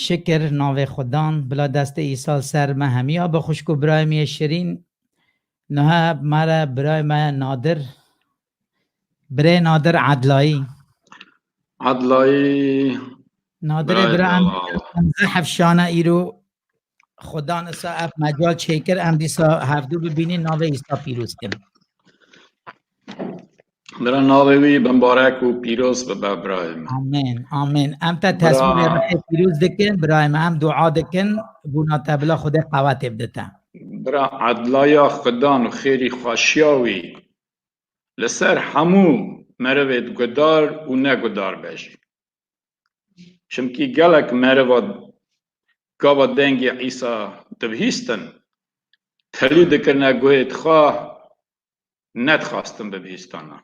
Şikir navê xwe dan, bila destê Îsa li ser me hemî a bi xwişk û birayê min yê şirîn. Niha me re birayê me nadir, birê nadir Edlayî. Edlayî. Nadirê bira em zehf şana îro Xudan issa ev mecal çêkir em dîsa hevdû bibînîn navê îsta pîroz kin. Bira navê wî bimbarek û pîroz bibe birayê min. Amin amin. Em te teswîrê rexê pîroz dikin birayê min em dua dikin bûna te bila xudê qewetê bidite. Bira edlaya xudan û xêrî xweşiya wî li ser hemû merivê gudar û negudar be jî. Çimkî gelek meriva gava dengê Îsa dibihîstin, telî dikirine guhê xwe nedixwastin bibihîstana.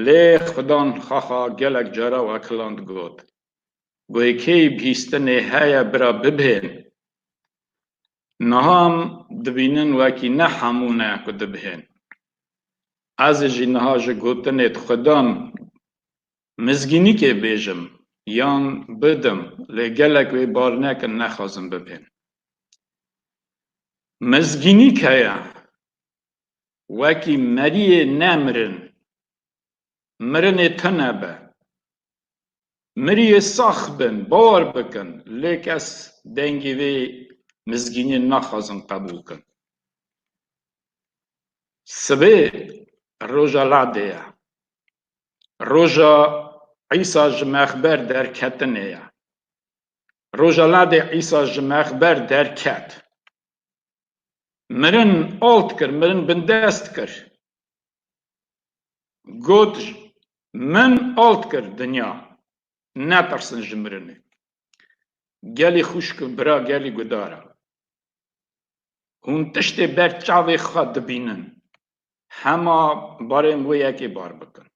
Lê Xwidan xaxa gelek cara û ekilan digot, Guhê kê bihîstinê heye bira bibihên? Niha em dibînin wekî ne hemû ne ku dibihên. Ez ê jî niha ji gotinê dixwedam mizgînîkê bêjim yan bidim lê gelek wê bar nekin nexwazin bibihên. Mizgînîk heye wekî meriyê ne mirin, mirinê tune be, Miriyê sax bin, bawer bikin, lê kes dengê vê mizgînê naxwazin qebûl bikin. Sibê roja Ladê ye. Roja Îsa ji mexber derketinê ye. Roja Ladê Îsa ji mexber derket. mirin alt kir, mirin bindest kir. Got, Min alt kir dinya, netirsin ji mirinê. Gelê xwişk û bira gelê gudar e. Hûn tiştê ber çavê xwe dibînin, hema barên wê yekê bar bikin.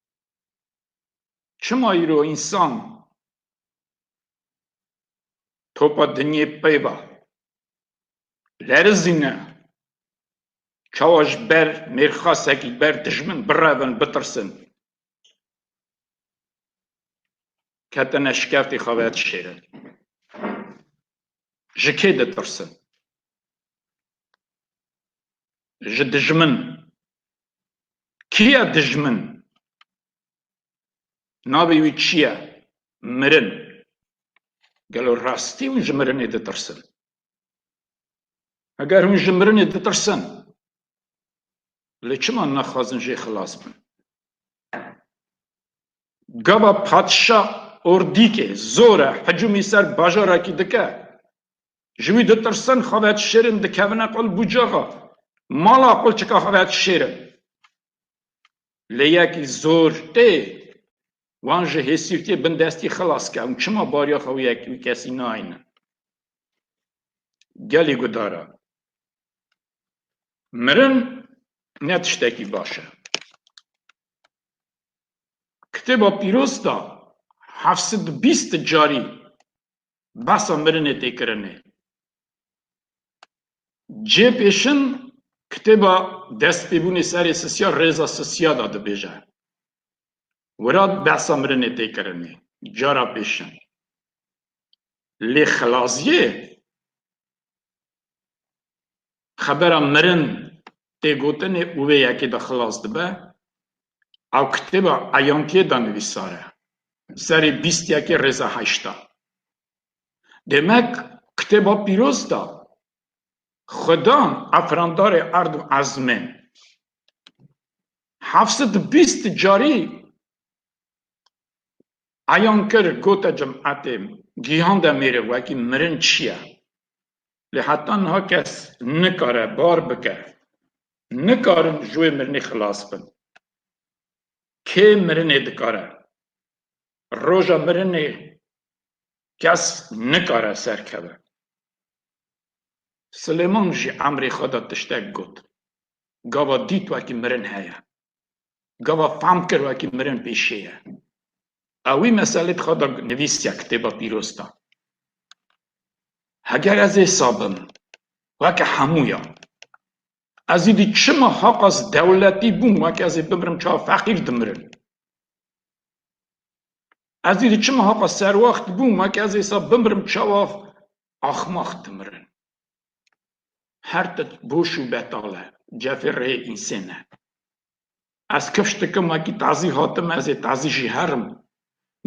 Çima îro însan topa dinyê pey be? Lerizîne, çawa ji ber mêrxasekî ber dijmin birevin, bitirsin, ketine şikeftê xwe ve dişêrin. Ji kê ditirsin? Ji dijmin. Kî ye dijmin? Navê wî çi ye? Mirin. Gelo rastî hûn ji mirinê ditirsin? Heger hûn ji mirinê ditirsin, lê çima naxwazin jê xilas bin? Gava patişa ordîkê zore hicûmî ser bajarekî dike, ji wî ditirsin, xwe vedişêrin, dikevine qul bûcaxa mala qulçika xwe vedişêrin. Lê yekî zor tê wan ji hêsîrtiyê bindestî xilas ke, hûn çima bariya xwe wî kesî nayînin? Gelî gudar e. Mirin ne tiştekî baş e. Kitêba Pîroz de heft sed û bîst carî behsa mirinê tê kirinê. Cê pêşin kitêba Destpêbûnê Serê Sisiya Rêza Sisiya de dibêje. Wira behsa mirinê tê kirinê cara pêşin. Lê Xilaziyê xebera mirin tê gotinê û wê yekê de xilas dibe. Ew kitêba Eyantiyê de nivîsar e, serê bîst yekê rêza heşt a. Demek kitêba pîroz de Xwedan efrandarê erd û ezmê heft sed û bîst carî Eyan kir gote cemaetê Gihan Demîrê wekî mirin çiye. Lê heta niha kes nikare bar bike. Nikarin ji wê mirinê xilas bin. Kê mirinê dikare. Roja mirinê kes nikare serkeve. Silêman jî emrê xwe da tiştek got. Gava dît wekî mirin heye. Gava fam kir wekî mirin pêşê ye. Ew wî meselê di xwe de nivîsiya kitêba pîroz de. Heger ez ê sabim weke hemûya ez îdî çima ha qas dewletî bûm weke ez ê bimirim çawa feqîr dimirin. Ez îdî çima ha qas serwaxt bûm weke ez ê sa bimirim çawa axmax dimirin. Her tit boş û betal e, cevê rê însên e. Ez kifş dikim wekî tazî hatim ez ê tazî jî herim.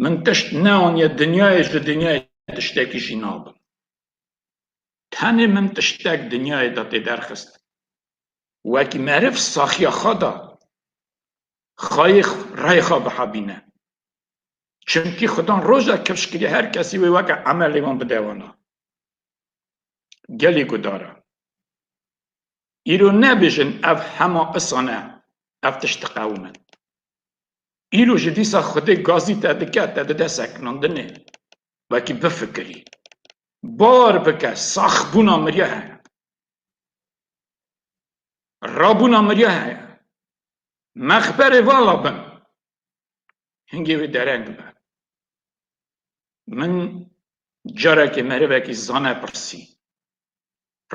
Min tişt neaniye dinyayê ji dinyayê tiştekî jî nabim. Tenê min tiştek dinyayê de tê derxist. Wekî meriv saxiya xwe da xayê reyê xwe bihebîne. Çimkî xudan roja kifş kiriye her kesî wê weke emelê wan bide wana. Gelê Gudar e. Îro nebêjin ev hema isan e ev tişt diqewime. Îro ji dîsa xwedê gazî te dike, te dide sekinandinê. Wekî bifikirî. Bar bike saxbûna mirya heye. Rabûna mirya heye. Mexberê vala bin. hingê wê dereng be. Min carekê merivekî zane pirsî,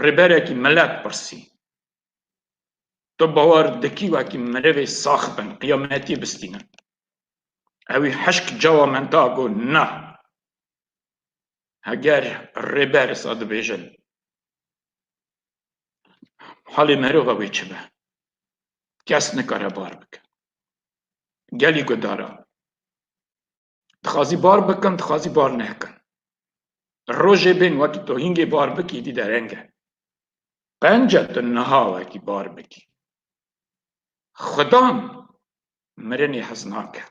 rêberekî milet pirsî, Tu bawer dikî wekî mirivê sax bin qiyametî bistînin? Ewî hişk cawa min da ku na. Heger rêber sa dibêjin Halê merova wê çi be? Kes nikare bar bike. Gelî gudara. Dixwazî bar bikin, dixwazî bar nekin. Rojê bên wekî tu hîngê bar bikî dî dereng e. Qence tu niha wekî bar bikî. Xudan mirinê hez nake.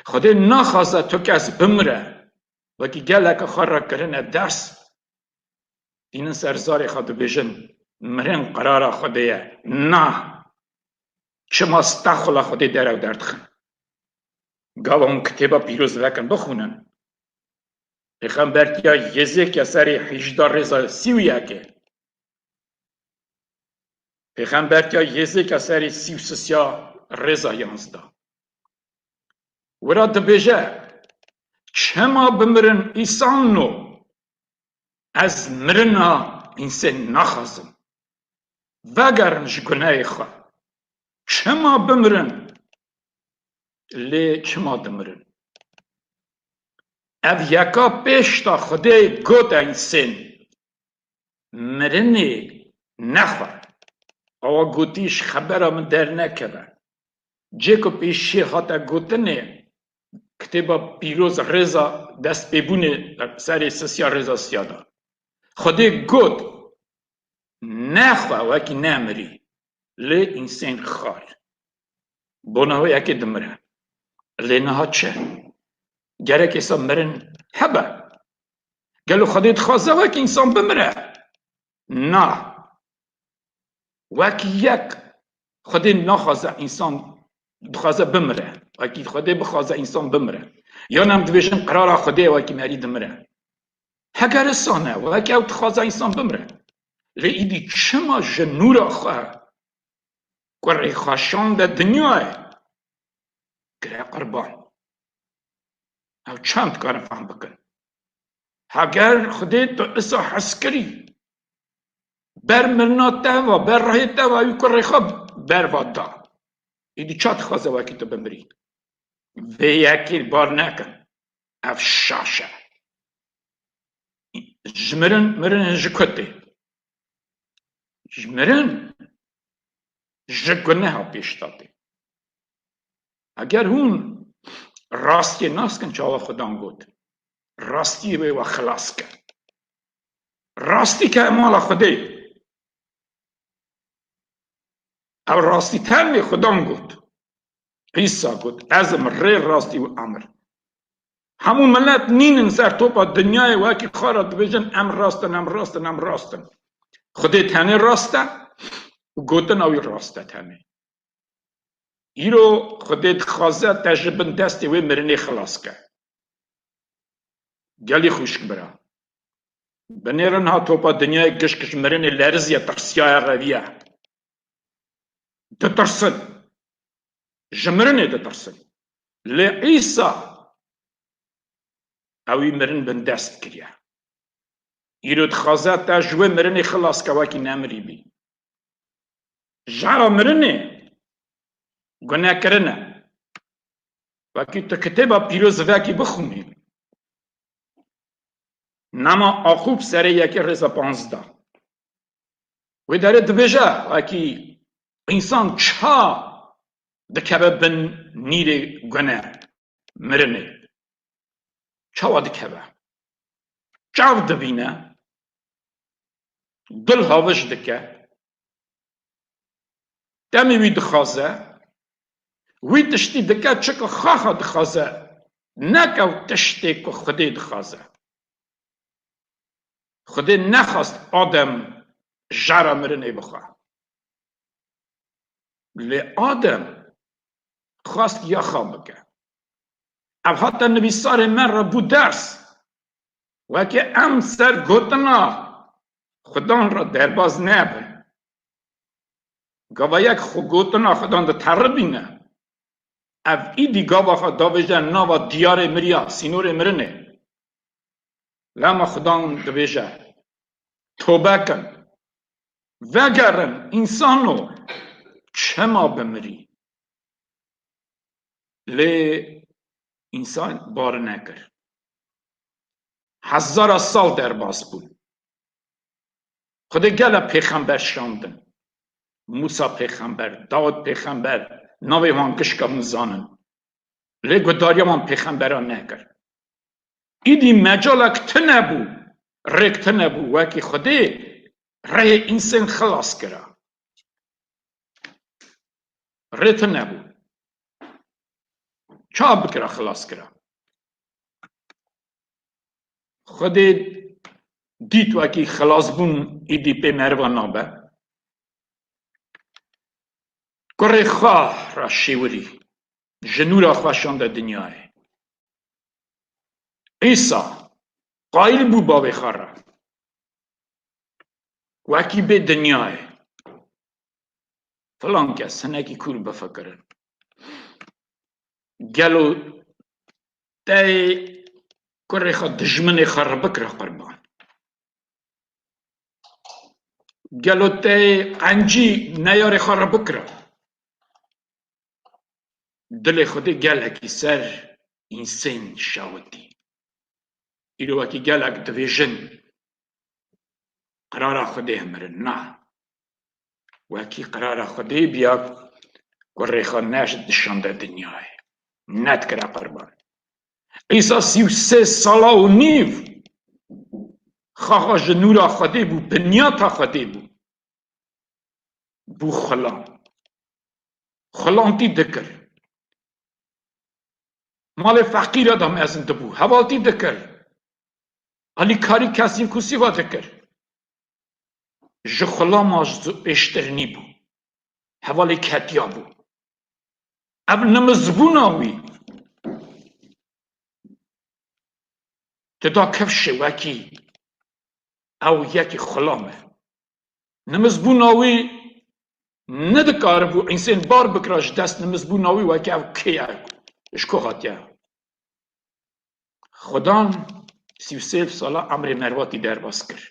Xwedê naxwaze tu kes bimire. Wekî geleke xwe re kirine ders Tînin ser zarê xwe dibêjin, Mirin qerara Xwedê ye. Na! Çima sta xula Xwedê derew derdixin? Gava hûn kitêba pîroz vekin bixwînin. Pêxember tiya Yêzêkiya serê hîjda rêza sî û yekê. Pêxember tiya Yêzêkiya serê sî û sisiya rêza yanzda. Wira dibêje, Çima bimirin îsan no Ez mirina Însê naxwazim. Vegerin ji guneyê xwe. Çima bimirin? Lê çima dimirin? Ev yeka pêşda Xwedê got Însên, Mirinê nexwe. Awa gotî ji xebera min dernekeve. Cê ku pêşî hate gotinê, kitêba pîroz e rêza destpêbûnê serê sisiya rêza siya da. Xwedê got ne xwe wekî nemirî lê însen xal. Bona wê yekê dimire. Lê niha çi? Gerek êsa mirin hebe? Gelo xwedê dixwaze wekî însan bimire? Na. Wekî yek Xwedê naxwaze însan dixwaze bimire. Wekî Xwedê bixwaze însan bimire. Yan em dibêjin qerara Xwedê ye wekî merî dimire. Heger isan e, wekî ew dixwaze însan bimire. Lê îdî çima ji nûra xwe ku rêxweşande dinyayê kire qurban? Ew çend dikarin fehm bikin? Heger xwedê tu isa hes kirî ber mirina te ve, ber rehê te ve wî kurê xwe berva da, îdî ça dixwaze wekî tu bimirî? Vê yekê li bar nekin. Ev şaş e. Ji mirin mirin ji ku tê. Ji mirin ji guneha pêş de tê. Eger hûn rastiyê naskin çawa Xwedan got, rastiyê wê we xilas kir. Rastî ke mala Xwedê ye. Ew rastî tenê Xwedan got. Îsa got ez im rê rastî û emir. Hemû milet nînin ser topa dinyayê wekî xwe re dibêjin em rast in em rast in em rast in. Xwedê tenê rast e û gotina wî rast e tenê. Îro Xwedê dixwaze te ji bin destê wê mirinê xilas bke. Gelî xwişk bira. Binêrin ha topa dinyayê gişk ji mirinê leriziye tirsiyaye reviye. Ditirsin. Ji mirinê ditirsin. Lê Îsa ewî mirin bin dest kiriye. Îro dixwaze te ji wê mirinê xilas bke wekî nemirîbî. Jara mirinê gunekirin e. Wekî tu kitêba pîroz vekî bixwînî nama Axûb serê yekê rêza panzda. Wê derê dibêje wekî însan çiha dikeve bin nîrê gune mirinê. Çawa dikeve? Çav dibîne? dil havij dike, demê wî dixaze, wî tiştî dike çike xaxa dixaze ne ke ew tiştê ku Xwedê dixaze. Xwedê nexwast Adem jara mirinê bixe. Lê Adem xwest yaxa bike. Ev hate nivîsarê me re bû ders Weke em ser gotina Xwedan re derbaz nebin. Gava yek xwe gotina Xwedan diteribîne. Ev îdî gava xwe davêje nava diyarê mirya, sînorê mirinê. Lema Xwedan dibêje, Tobe kin, vegerin însano, çima bimirî? Lê însan bar nekir. Hezara sal derbas bûn. Xwedê gela pêxember şandin. Mûsa pêxember, Dawid pêxember, navê wan gişka hûn zanin. Lê guhdariya wan pêxemberan nekir. Îdî mecalek tune bû, rêk tune bû wekî Xwedê rehê însen xilas kira. Rê tune bû. Çawa bikira xilas kira? Xwedê dît wekî xilasbûn êdî pê merivan nabe. Kurê xwe re şêwirî ji nû re xwe şande dinyayê. Îsa qayîl bû bavê xwe re wekî bê dinyayê. Filan kes hinekî kûr bifikirin. Gelo tey kurê xwe dijminê xwe re bikire qurban? Gelo tey qencî neyarê xwe re bikire? Dilê Xwedê gelekî ser însen şewitî. Îro wekî gelek dibêjin, Qerara Xwedê ye mirin. Na, Wekî qerara Xwedê biya ku rêxa neş dişande dinyayê. Nedikire qurban. Îsa sî û sê sala û nîv xaxa ji nûra Xwedê bû, binyata Xwedê bû. Bû xulam. Xulantî dikir. Malê feqîre de mezin dibû. Hevaltî dikir. Alîkarî kesî û kusî ve dikir. ji xulama zû pêştir nîbû, hevalê ketiya bû. Ev nimizbûna wî dida kevşê wekî ew yekî xulam e. Nimizbûna wî nedikaribû însên bar bikira ji dest nimizbûna wî wekî ew kê ye, ji ku hatiye. Xwedan sî û sêv sala emrê mervatî derbas kir.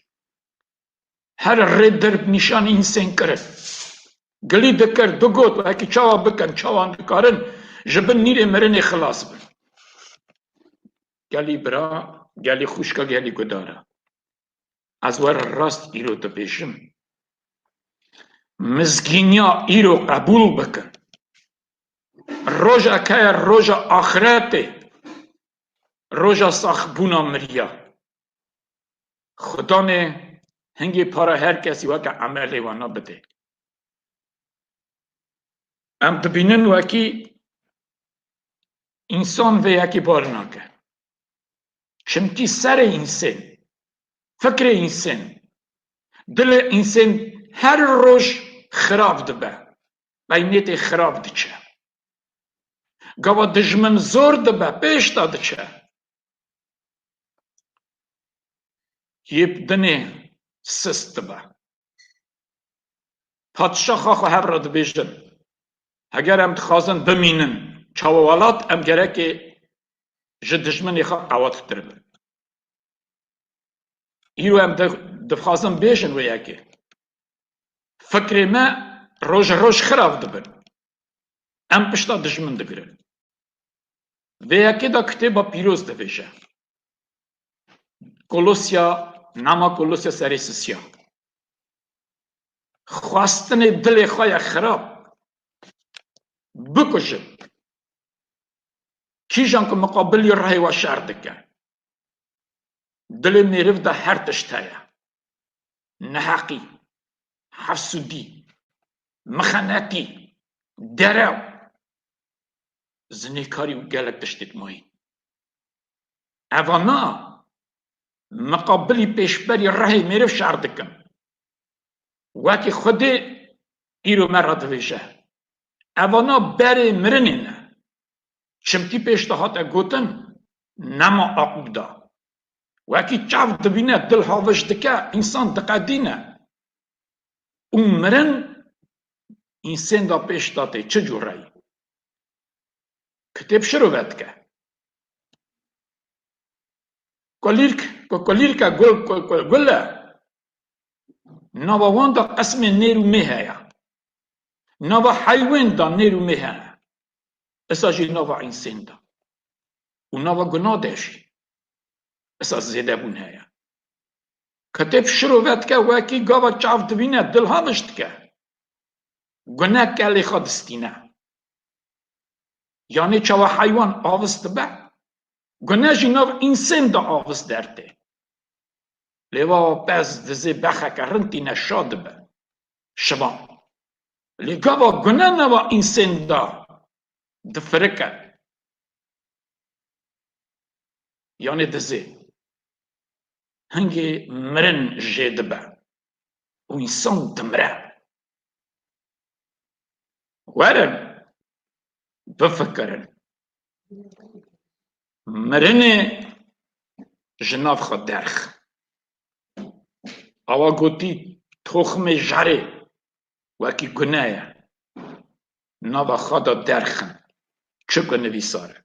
Her rê dir bi nîşanî însên kirin. Gilî dikir, digot wekî çawa bikin, çawan dikarin ji bin nîrê mirinê xilas bin. Gelî bira, gelî xwişka, gelî gudar e. Ez were rast îro dibêjim. Mizgîniya îro qebûl bikin. Roja ke ye roja axretê, roja saxbûna miriya. Xudanê hingê para her kesî weke emelê wana bidê. Em dibînin wekî însan vê yekê bar nake. Çimkî serê însen, fikrê însen, dilê însen her roj xirab dibe. peynêtê xirab diçe. Gava dijmin zor dibe pêş de diçe. Yêp dinê sist dibe. Padişaxa xwe hev re dibêjin, Heger em dixwazin bimînin çawa welat, em gerekê ji dijminê xwe qewattir bin. Îro em dixwazin bêjin wê yekê. Fikrê me roj e roj xirav dibin. Em pişta dijmin digirin. Vê yekê de kitêba pîroz dibêje. Kolosya nama Kolosya serê sisiya. Xwestinê dilê xwe ye xirab. Bikujin. Kîjan ku miqabilî rehê we şer dike. Dilê mêriv de her tişt heye. Neheqî, hefsûdî, mixenetî, derew, zinêkarî û gelek tiştê di mayî. Eva na, miqabilî pêşberî rehê mêriv şer dikin. Wekî Xwedê îro me re divêje, Eva na berê mirinê ne, Çimkî pêş de hate gotin nema aqûda. Wekî çav dibîne dil havij dike, însan diqedîne û mirin însênda pêş de tê çi cure yî. Kitêb şiro vedike. Kulîrk, ku kulîrk e gul ku gul e, nava wan de qismên nêr û mê heye. Nava heywên de nêr û mê hene. Esa jî nava însên da û nava guna de jî esa zêdebûn heye. Ketêb şiro vedike wekî gava çav divîne dil haviş dike. Gune kelê xwe distîne. Yanê çawa heywan avis dibe, gune jî nav însên de avis dertê. Lê va pez dizê bexeke rind tîne şa dibe. şiva. Lê gava gune nava însen de difirike yanê dizê. Hingê mirin jê dibe û însan dimire. Werin bifikirin. Mirinê ji nav xwe derx. Awa gotî, Toximê jarê wekî gune ye, nava xwe de derxin, çi ku nivîsar e.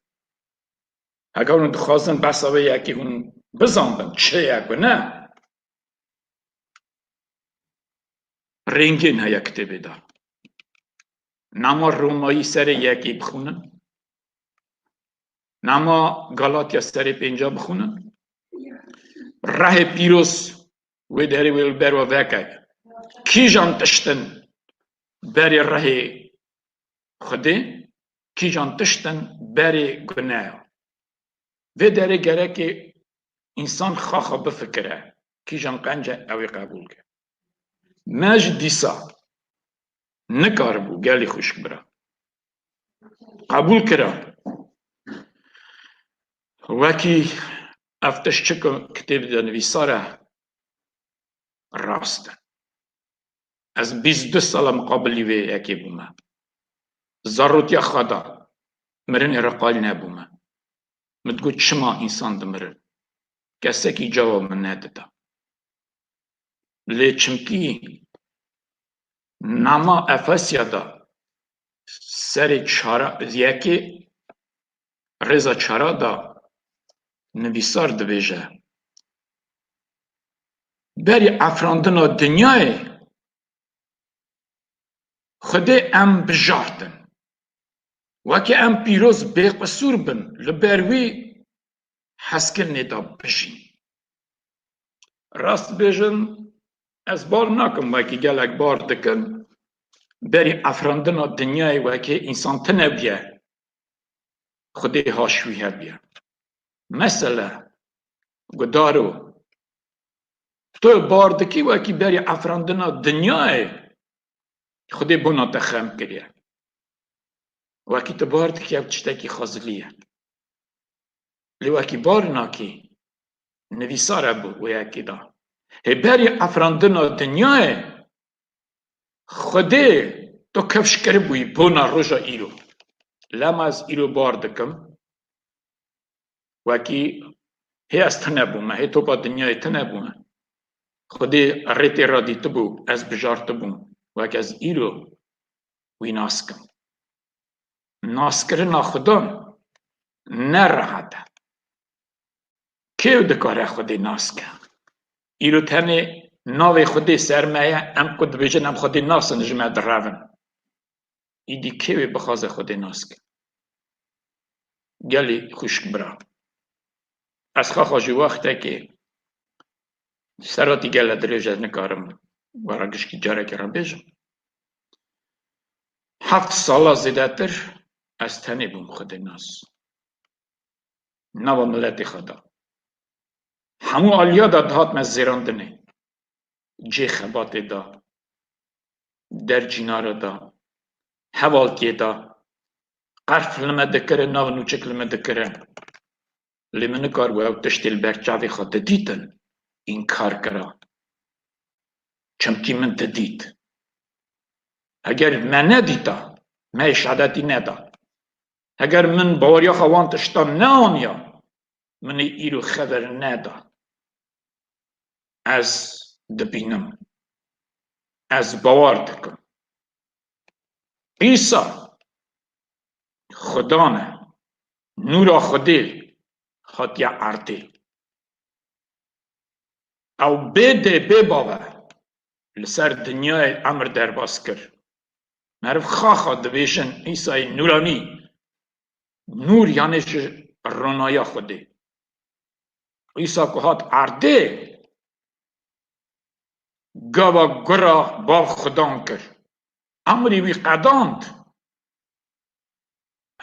Heger hûn dixwazin behsa vê yekê hûn bizanibin çi ye ku ne, rêngên heye kitêbê de. Nama Romayî serê yekê bixwînin. Nama Galatya serê pênca bixwînin. Rehê pîroz wê derê wê li ber we veke. Kîjan tiştin berê rehê Xwedê, kîjan tiştin berê guneya. Vê derê gerekê însan xaxa bifikire, kîjan qence ew ê qebûl ke. Me ji dîsa nikaribû gelê xwişk bira. qebûl kira. Wekî ev tişt çi ku kitêbê de nivîsar e rast e. Ez bîst û du sal e miqabilî wê yekê bûme. Zarotiya xwe da, mirinê re qayîl nebûme. Min digot çima însan dimirin? Kesekî cawab min nedida. Lê çimkî Nama Efesya de serê çara yekê rêza çara de nivîsar dibêje, Berî efrandina dinyayê Xwedê em bijartin. Weke em pîroz bêqisûr bin li ber wî hezkirinê de bijîn. Rast dibêjin ez bar nakim wekî gelek bar dikin berî efrandina dinyayê wekî însan tunebûye xwedê haşwî hebûye. Mesele gudar o tu bar dikî wekî berî efrandina dinyayê xwedê bona te xem kiriye. Wekî tu bar dikî ev tiştekî xwezilî ye. Lê wekî barinakî nivîsar hebû wê yekî da. Hê berî afirandina dinyayê Xwedê to kevş kiribûyî bona roja îro. Lema ez îro bar dikim wekî hê ez tune bûme, hê topa dinyayê tune bûme. Xwedê rê tê ra dîtibû, ez bijartibûm wek ez îro wî nas kim. Naskirina Xuda ne rehet e. Kêw dikare Xwedê nas ke? Îro tenê navê Xwedê ser me ye, em ku dibêjin em Xwedê nas in ji me direv in. Îdî kêw ê bixwaze Xwedê nas ke? Gelê xwişk bira, ez xaxa ji wextekê seratî gele dirêj ez nikarim we re gişkî carekê re bêjim. Heft sala zêdetir ez tenê bûm Xwedê nas nava miletê xwe da. Hemû aliya de dihatime zêrandinê, cê xebatê de, der cînare de, hevalkê de, qerf li me dikirin, nav nûçik li me dikirin. lê min nikar bû ew tiştê li ber çavê xwe didîtin înkar kira çimkî min didît. Heger me nedîta, me yê şehadetî neda. Heger min baweriya xwe wan tiştan neaniya, min ê îro xeber neda. Ez dibînim. Ez bawer dikim. Îsa Xuda ne. Nûra Xwedê hatiye erdê. Ew bê dê bê bave li ser dinyayê emr derbas kir. Meriv xaxa dibêjin Îsayê nûranî, nûr yanê ji ronaya Xwedê. Îsa ku hat erdê, gava gura Bav Xwedan kir. Emrê wî qedand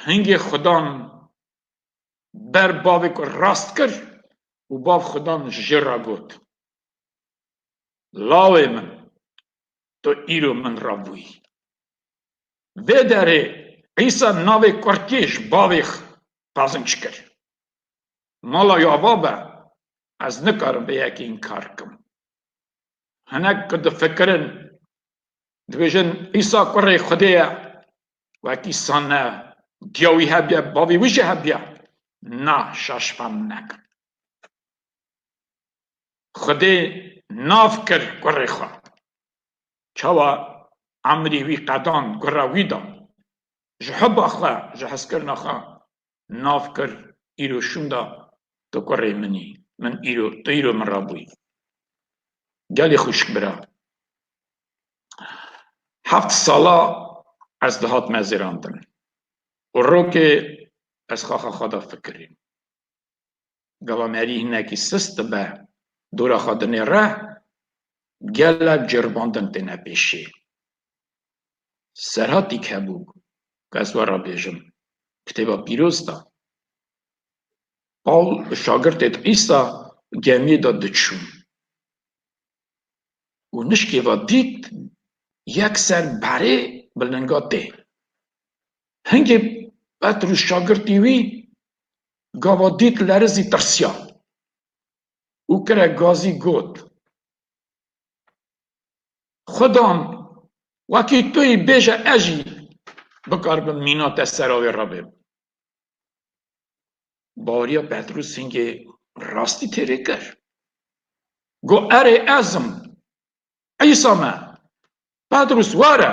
Hingê Xudan ber bavê ku rast kir û bav Xudan ji ra got, Lawê min, tu îro min ra bûyî. Vê derê Îsa navê kurtiyê ji bavê qazinç kir. Mala wî ava be, Ez nikarim vê yekê înkar bikim. Hinek ku difikirin, dibêjin Îsa kurê Xwedê ye Wekî sane diya wî hebîya bavî wî jî hebîya na şaş fam nekin. Xwedê nav kir kurê xwe. Çawa emrî wî qedan kura wî da. Ji hubba xwe, ji hezkirina xwe nav kir îro şûnda tu kurê min î min îro tu îro min ra bûyî gelê xwişk bira heft sala ez dihat me zêrandin û rokê ez xaxa xwe da fikirîm Gava merî hinekî sist dibe dora xwedinê re, gela ceribandin têne pêşê. Serhatîk hebû ku ez we re bêjim, kitêba pîroz de Pawl bi şagirtê di Îsa gemiyê de diçûn û nişkê ve dît yek ser berê bi linga tê. Hingê Petrûs şagirtî wî Gava dît lerizî tirsiya û kire gazî got, Xudan wekî tu yî bêje ez jî bikaribim mîna te sera wê re bêbim. Baweriya Petrûs hingê rastî têrê kir. Got, Erê ez im, Îsa me. Petrûs were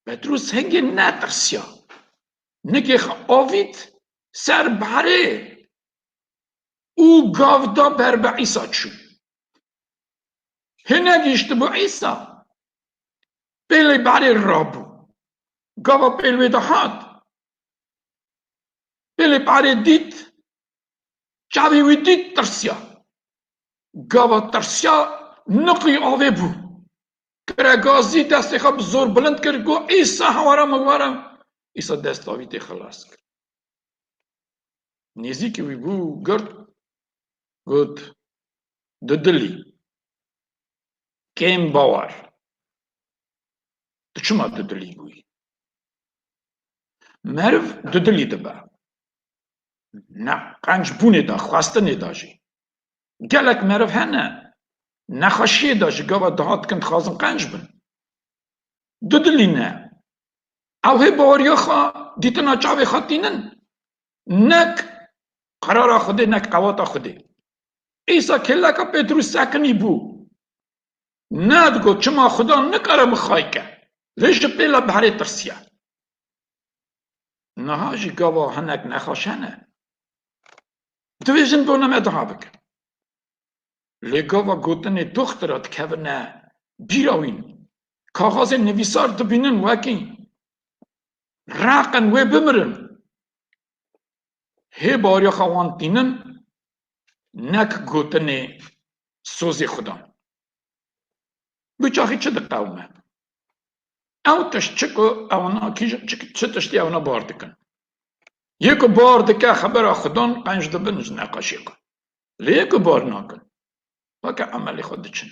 Petrûs hingê netirsiya, nikê xwe avît ser berê û gav da ber bi Îsa çû. Hine gihîştibû Îsa, pêlê berê rabû, gava pêl wê de hat, pêlê berê dît, çavê wî dît tirsiya, gava tirsiya niqî avê bû. Qeregazî destê xwe bi zor bilind kir got, Îsa hewara min were! Îsa desta wî tê xilas kir. Nêzîkî wî bû girt got, Tu dilî, kêm bawer, tu çima tu dilî bûyî? Meriv dudilî dibe, ne qenc bûnê de, xwestinê de jî. Gelek meriv hene nexweşiyê de ji gava daha dikin dixwazin qenc bin. Du dilî ne. Ew hê baweriya xwe, dîtina çavê xwe tînin. Nek qerara Xwedê nek qewata Xwedê. Îsa kêleka Petrûs sekinî bû. Ne digot çima Xweda nikare bixayike, lê ji pêle berê tirsiye. Niha jî gava hinek nexweş hene. Divê jin bona me duha bikin. Lê gava gotinê doxtira dikevine bîra wî. Kaxazê nivîsar dibînin wekî raqin wê bimirin. Hê bariyaxa wan tînin nek gotinê sozê xudan. Biçaxî çi diqewime? Ew tişt çi ku ewna kî çi tiştî ewna bar dikin. Yê ku bar dike xebera xudan qenc dibin ji neqaşê xwe. Lê yê ku bar nakin weke emelê xwe diçin.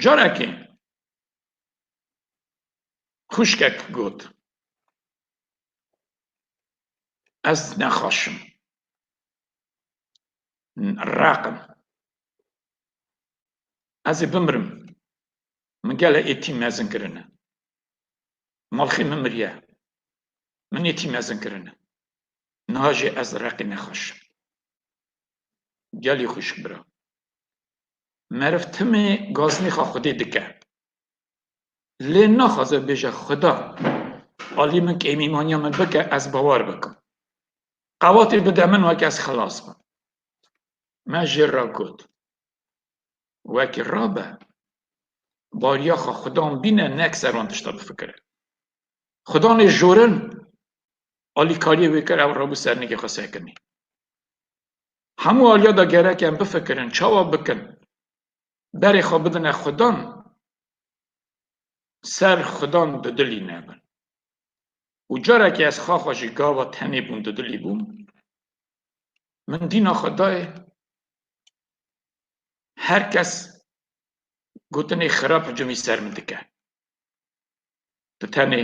Carekê xwişkek got, Ez nexaşim, req im. Ez ê bimirim, min gele êtî mezin kirine. Malxê min miriye. Min ê tî mezin kirin. Niha jî ez reqê nexweşim. Gelî xwişk bira. Meriv timê gaznîxa xwedê dike. Lê naxwaze bêje Xuda alî min kêmîmaniya min bike ez bawer bikim. Qewatê bide min weke ez xilas bim. Me jêr re got. wekî rabe bariya xwe xudan bîne nek ser wan tişta bifikire. Xudanê jorin alîkariyê wê kir ew rabû sernîgê xwe sekinî. Hemû aliya da gerek em bifikirin çawa bikin berê xwe bidine xudan ser xudan di dilî nebin. Û carekê ez xa xwe jî gava tenê bûm di dilî bûm min dîna xwe dayê Her kes gotinê xirab hicûmî ser min dike. Tu tenê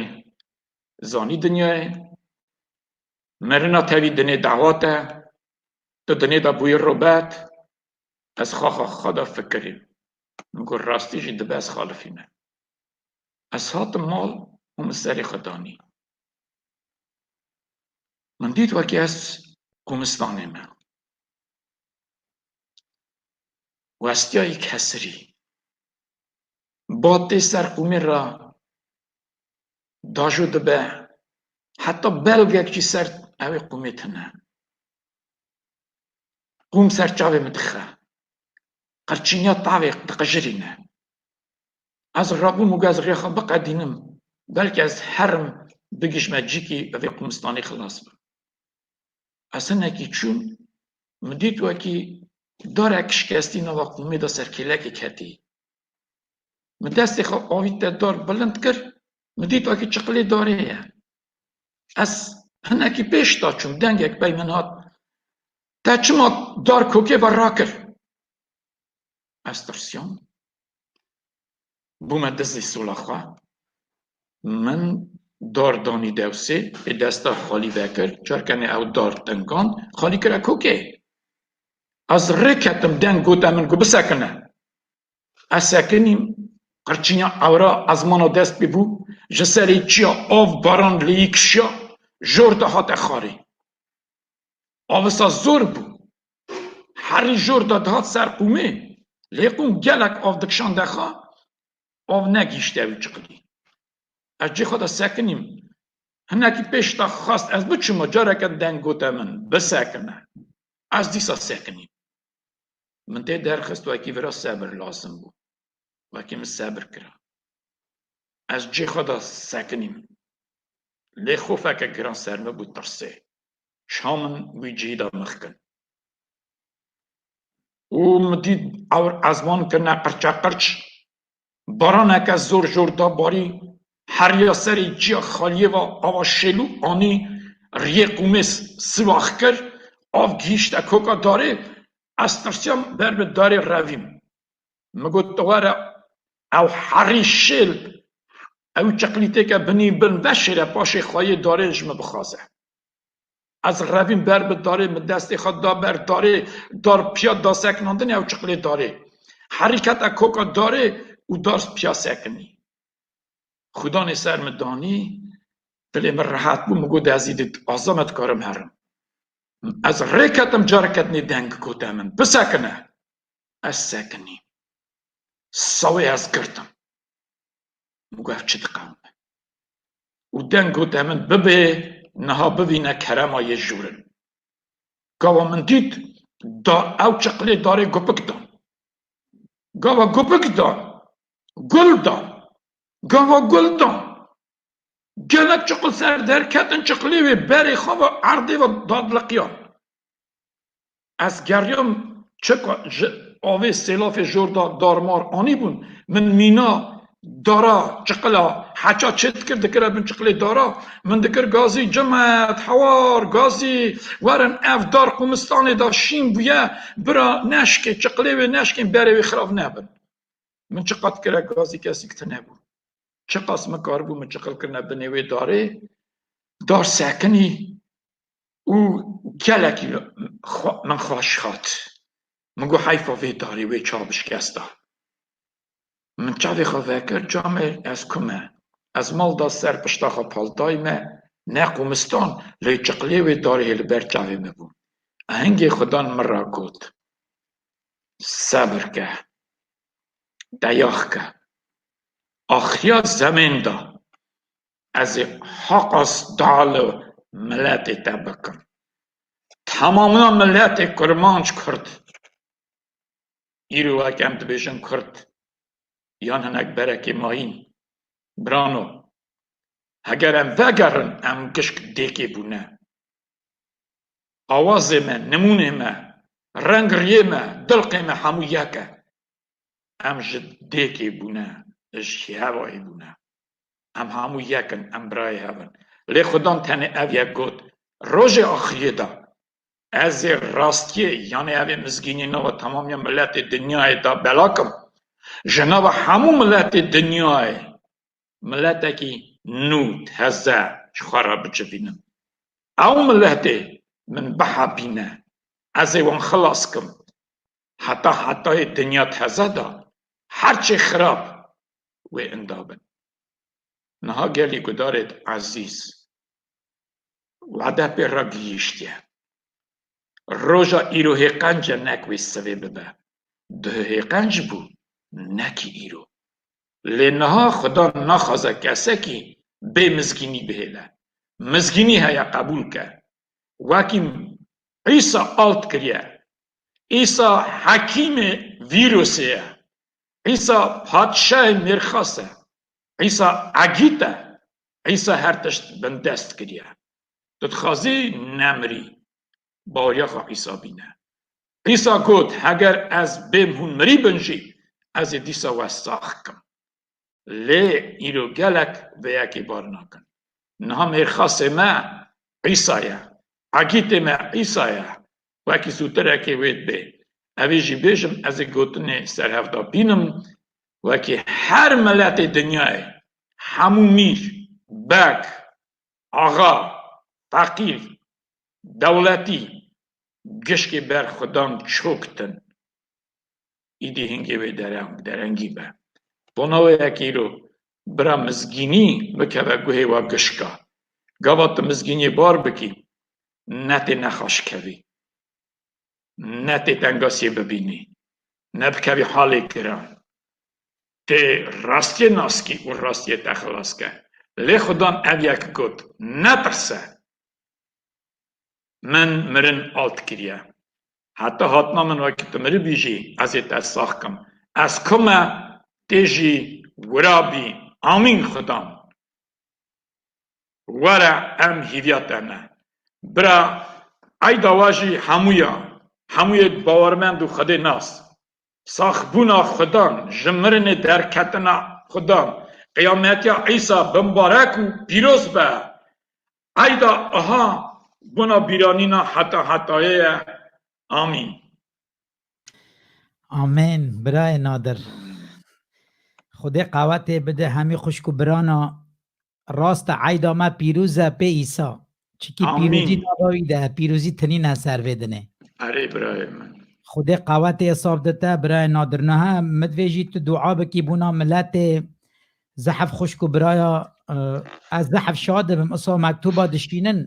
zanî dinyayê, merina tevî dinê dawat e, tu dinê de bûyî robert, ez xaxa xwe de fikirîm, min got rastî jî dibe ez xalifîme. Ez hatim mal û min serê xwe danî. Min dît wekî ez kumistanê me. Westiyayî kesirî, batê ser qûmê re dajo dibe, heta belgek jî ser ewê qûmê tine. Qûm ser çavê min dixe, qirçîniya tavê diqijirîne. Ez rabûm û got ez rêya xwe biqedînim, belkî ez herim bigihîjme cîkî bi vê qûmistanê xilas bim. Ez hinekî çûm, min dît wekî darek şikestî nava qûmê de ser kêlekê ketî. Min destê xwe avît te dar bilind kir, min dît wekî çiqilê darê ye. Ez hinekî pêş da çûm, dengek pey min hat, Te çima dar kokê ve rakir? Ez tirsiyam. Bûme dizî sola xwe. Min dar danî dewsê ê desta xalî vekir. Çar kenê ew dar tinkand, xalî kira kokê. Ez rê ketim deng gote min ku bisekine. Ez sekinîm, qirçîna ewra ezmana dest bû, ji serê çiya av baran lêyî kişiya, jor de hate xarê. Avisa zor bû. Herî jor de dihat ser qûmê lê qûm gelek av dikişand xwe av negihîşte wî çiqilî. Ez cê xwe de sekinîm. Hinekî pêş de xwest ez biçima careke deng gote min bisekine. Ez dîsa sekinîm. Min tê derxist wekî vira sebir lazim bû. Wekî min sebir kira. Ez cê xwe de sekinîm. lê xofeke giran ser min bû tirsê çiha min wî cihî da mixkin û min dît ewr ezman kirine qirçeqirç, baraneke zor zor da barî, heriya serê ciya xaliyê ve ava şêlû anî riyê qûmês siwax kir, av gihîşte koka darê, ez tirsiyam ber bi darê revîm. Min got tu were ew herî şêl bi, ew çeqlîtêke binî bin veşêre paşê xwe yê darê ji min bixwaze. Ez revîm ber bi darê, min destê xwe da ber darê, dar piya da sekinandinê ew çeqlê darê. Herî kete koka darê û dar piya sekinî. Xwidanê ser min danî, dilê min rehet bû, min got ez îdî aza me dikarim herim. Ez rê ketim careke din ê deng gote min, bisekine. Ez sekinî. Sewê ez girtim. Min got ev çi diqewime. Û deng got e min bibê niha bivîne kerema yê jûrin. Gava min dît da ew çiqilê darê gupik dan. Gava gupik dan. Gul dan. Gava gul dan. Gelek çiqil ser der ketin çiqilê wê berê xwe ve erdê ve dadiliqiyan. Ez geriyam çeka ji avê sêlafê jor de darmar anîbûn. Min mîna dara çiqila heça çê dikir, dikire bin çiqilê dara. Min dikir gazî Cimet, hewar, gazî, werin ev dar qumistanê de şîn bûye, bira neşkê, çiqilê wê neşkên berê wê xirav nebin. Min çiqa dikire gazî kesîk tune bû. Çiqas min karibû min çiqil kirine binê wê darê, dar sekinî û gelekî min xweş hat. Min got heyfa vê darê wê çav bi şikest da. Min çavê xwe vekir camê ez ku me. Ez mal da ser pişta xwe paltayê me ne qumistan lê çiqlê wê darê yê li ber çavê me bû. Ahengê xudan min ra got sebir ke, deyax ke. Axiya zemên da. Ez ê heqa sta li miletê te bikim. Temamiya miletê kurmanc kurd îro weke em dibêjin kurd yan hinek berekê ma hîn. Birano, heger em vegerin em gişk dêkê bûne. Awazê me, nimûnê me, reng riyê me, dilqê me hemû yek e. Em ji dêkê bûne, ji hevayê bûne. Em hemû yek in, em birayê hev in. Lê Xwedam tenê ev yek got, Rojê axiriyê de ez ê rastiyê yanê evê mizgînî nava temamiya miletê dinyayê de bela kim. Ji nava hemû miletê dinyayê miletekî nû, teze ji xwe re bicivînim. Ew miletê min bihebîne, ez ê wan xilas kim. Heta hetayê dinya teze de her çê xirab wê inda bin. Niha gelî gudarê di Ezîz wade pê re gihîştiye. Roja îro hêqence nek wê sivê bibe. Duh hêqenc bû nekî îro. Lê niha xuda naxwaze kesekî bê mizgînî bihêle. Mizgînî heye qebûl ke. Wekî Îsa alt kiriye. Îsa hekîmê vîrosê ye. Îsa Padşahê mêrxas e. Îsa Egît e. Îsa her tişt bindest kiriye. Tu dixwazî nemirî. Baweriya xwe Îsa bîne. Îsa got, Heger ez bêm hûn mirîbin jî, ez ê dîsa we sax kim. Lê îro gelek vê yekê bar nakin. Niha mêrxasê me Îsa ye. Egîtê me Îsa ye. wekî sûtirekê wê dibê. Evî jî bêjim ez ê gotinê serhevda bînim wekî her miletê dinyayê hemû mîr, beg, axa, feqîr, dewletî gişkê ber xudan çok din. Îdî hingê wê dereng derengî be. Vana wê yekê îro bira mizgînî bikeve guhê wa gişka. Gava tu mizgîniyê bar bikî ne tê nexweşkevî, ne tê tengasiyê bibînî, ne bikevî halê giran. Tê rastiyê naskî û rastiyê te xilas ke. Lê Xudan ev yek got, Netirse! Min mirin alt kiriye. Heta hatina min wekî tu miribî jî ez ê te sax kim. Ez ku me, tê jî wira bî. Amîn Xudan! Were em hîrîya te ne. Bira eyda wa jî hemû ya. Hemû yê bawermend û xwedê nas. Sax bûna xwedan, ji mirinê derketina xwedan, qiyametiya Îsa bi mbarek û pîroz be. Eyda Iha bona bîranîna heta hetayê ye. Amîn. Amen birayê nadir. Xwedê qawetê bide hemî xwişk û birana rast e eyda me pîroz e pê Îsa. Çikî Amin. pîrozî nava wî de pîrozî tinî ne ser vê dinê. Erê birayê min. Xwedê qawetê esaf de te birayê nadir niha min divê jî tu dua bikî bûna miletê zehf xwişk û biraya eh, ez zehf şa dibim isa mektuba dişînin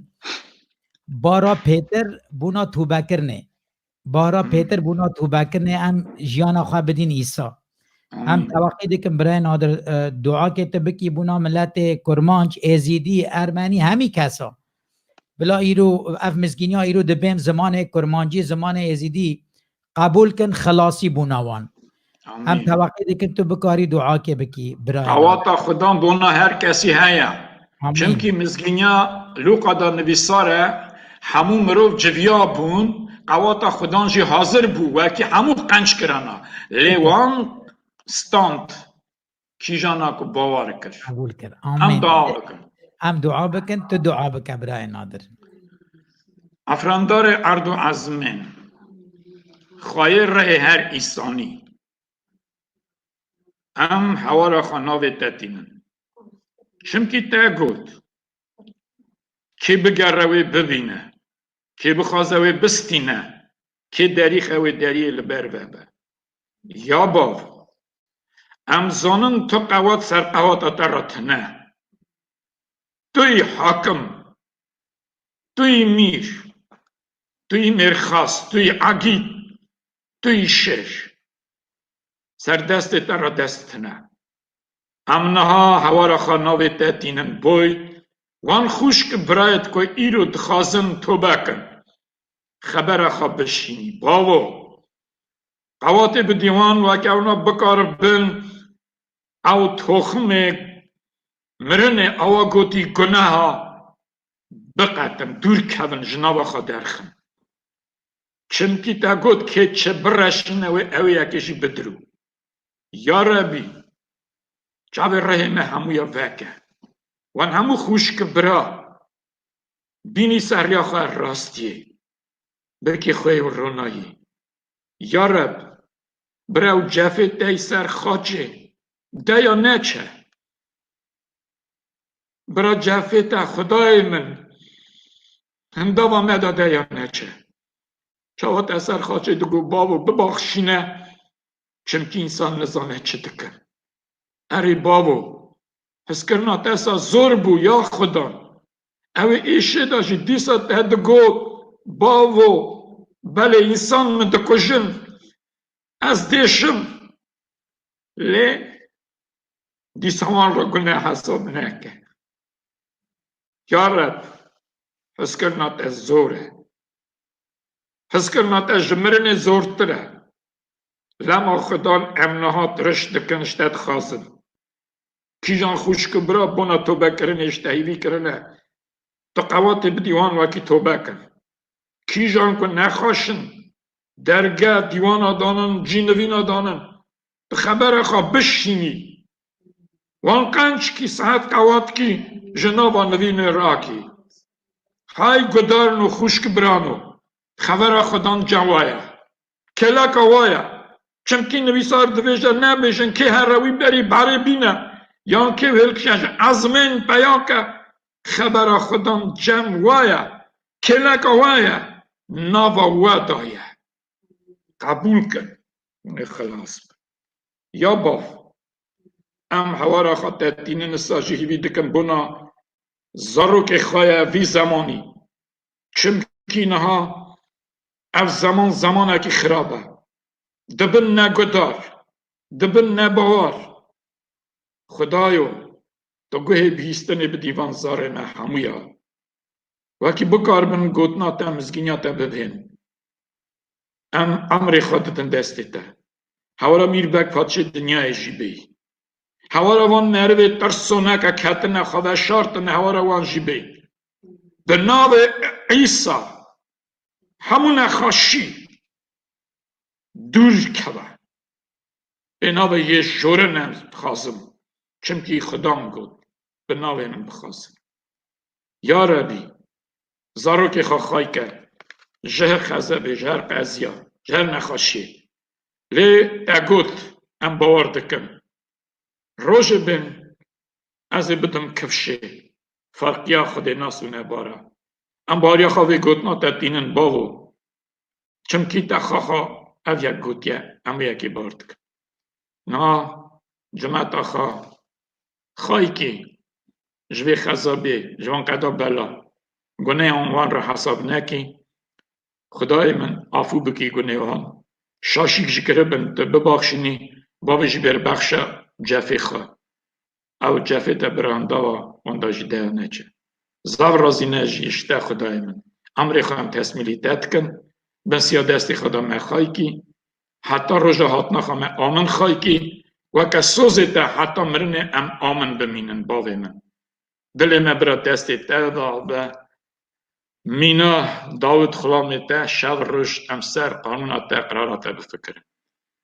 bara pêtir bûna tûbekirinê. Bara pêtir bûna tûbekirinê em jiyana xwe bidîn Îsa. Em teweqî dikin Birayê Nadir duakê tu bikî bûna miletê Kurmanc, Êzîdî, Ermenî hemî kesa. Bila îro ev mizgîniya îro dibêm zimanê Kurmancî, zimanê Êzîdî qebûl kin xilasî bûna wan. Em teweqî dikin tu bikarî duakê bikî bira. Awata Xudan bona her kesî heye. Çimkî mizgînya Luqa da nivîsar e, hemû mirov civiya bûn, qewata Xudan jî hazir bû wekî hemû qenc kirana. Lê wan stand. kîjana ku bawar kir. Qebûl kir. Em Amîn. dua bikin. Em dua bikin, tu dua bike birayê Nadir. Efrandarê erd û ezmên, xwayê rehê her îsanî. Em hewala xwe navê te tînin. Çimkî te got, Kê bigere wê bibîne, kê bixwaze wê bistîne, kê derîxe wê deriyê li ber vebe. Ya bav, em zanin tu qewat ser qewata te re tune. Tu yî hakim, tu yî mîr, tu yî mêrxas, tu yî egîd, tu yî şêr. Ser destê te re dest tune. Em niha hewara xwe navê te tînin boy, wan xwişk birayê te ku îro dixwazin tobe kin, xebera xwe bişînî. Bavo! Qewatê bi dîwan rakewna bikaribin ew toximê mirinê awa gotî guneha biqetin, dûr kevin, ji nava xwe derxin. Çimkî te got kê çi bireşîne wê ewê yekê jî bidirû. Ya Rebî! Çavê rihê me hemû ya veke. Wan hemû xwişk bira Bînî seriya xwe rastiyê, birkê xwe yê ronayî. Ya Reb, birew cefê tey ser xaçê deya neçe. Bira cefê te Xwedayê min hindava me de deya neçe. Çawa te ser xaçê digo bavo bibaxşîne çimkî însan nizane çi dikin. Erê bavo, hizkirina te sa zor bû ya Xweda, Ew ê êşê de jî dîsa te digot, Bavo, belê însan min dikujin, ez diêşim. Lê dîsa wan re gune hesab neke. Ya Reb, hizkirina te zor e. Hizkirina te ji mirinê zortir e. Lema Xudan em niha tiriş dikin ji te dixwazin. Kîjan xwişk û bira bona tobekirinê ji tehîvî kirine, tu qewatê bidî wan wekî tobe kin. Kîjan ku nexweşin, derge, dîwana danin, cînivîna danin, bi xebera xwe bişînî. Wan qenc kî, sehet qewat kî, ji nava nivînê rakî. Hay gudarino xwişk birano, xevera xwe dan cewa ye. Kelaka wa ye. Çimkî nivîsar dibêje nebêjin kê here wî berî berê bîne yan kê hêlkişe ji ezmên peyake xebera xwe dan cem wa ye. Kêleka wa ye nava we da ye. Qebûl kin hûn ê xilas bin. Ya bav em hewara xwe te tînin issa jî hîvî dikin bona zarokê xwe ye vî zemanî Çimkî niha ev zeman zemanekî xirab e. Dibin ne guhdar, dibin ne bawar. Xudayo tu guhê bihîstinê bidî van zarê me hemû ya. Wekî bikaribin gotina te mizgîniya te bibihên. Em emrê xwe didin destê te. Hewara Mîr Beg Paşê Dinyayê jî bê. Hewara van merivê tirsoneke ketine xwe veşartine hewara wan jî bê. Bi navê Îsa hemû nexweşî dûr keve. Bi navê yê Jûrin ez dixwazim, çimkî Xwedam got, Bi navê min bixwazin. Ya Rebî, zarokê xwe xay ke ji her xezebê, ji her qeziya, ji her nexweşiyê. Lê te got, Em bawer dikin. Rojê bin ez ê bidim kifşê ferqîya xwedênas û nebar e. Em bariya xwe vê gotina te tînin bavo, çimkî te xaxa ev yek gotiye, em wê yekê bar dikin. Niha cimeta xwe xayikê ji vê xezabê, ji van qeda bela guneyan wan re hesab nekî, xwedayê min afû bikî gunê wan, şaşîk ji kiribin tu bibaxşînî, bavê jî bêrbexşe cefê xwe. ew cefê te birandawa wenda jî deya neçe. Zaf razî ne ji îşte xudayê min. Emrê xwe em tesmîlî te dikin, bin siya destê xwe de me xaykî, heta roja hatina xwe me amin xaykî, weke sozê te heta mirinê em amin bimînin bavê min. Dilê me bira destê te de be, Mîna dawit xulamê te şev roj em ser qanûna te qirara te bifikirin.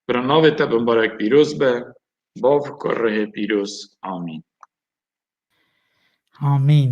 Bira navê te binbarek pîroz be bavko rihê pîroz. Amîn. Amîn.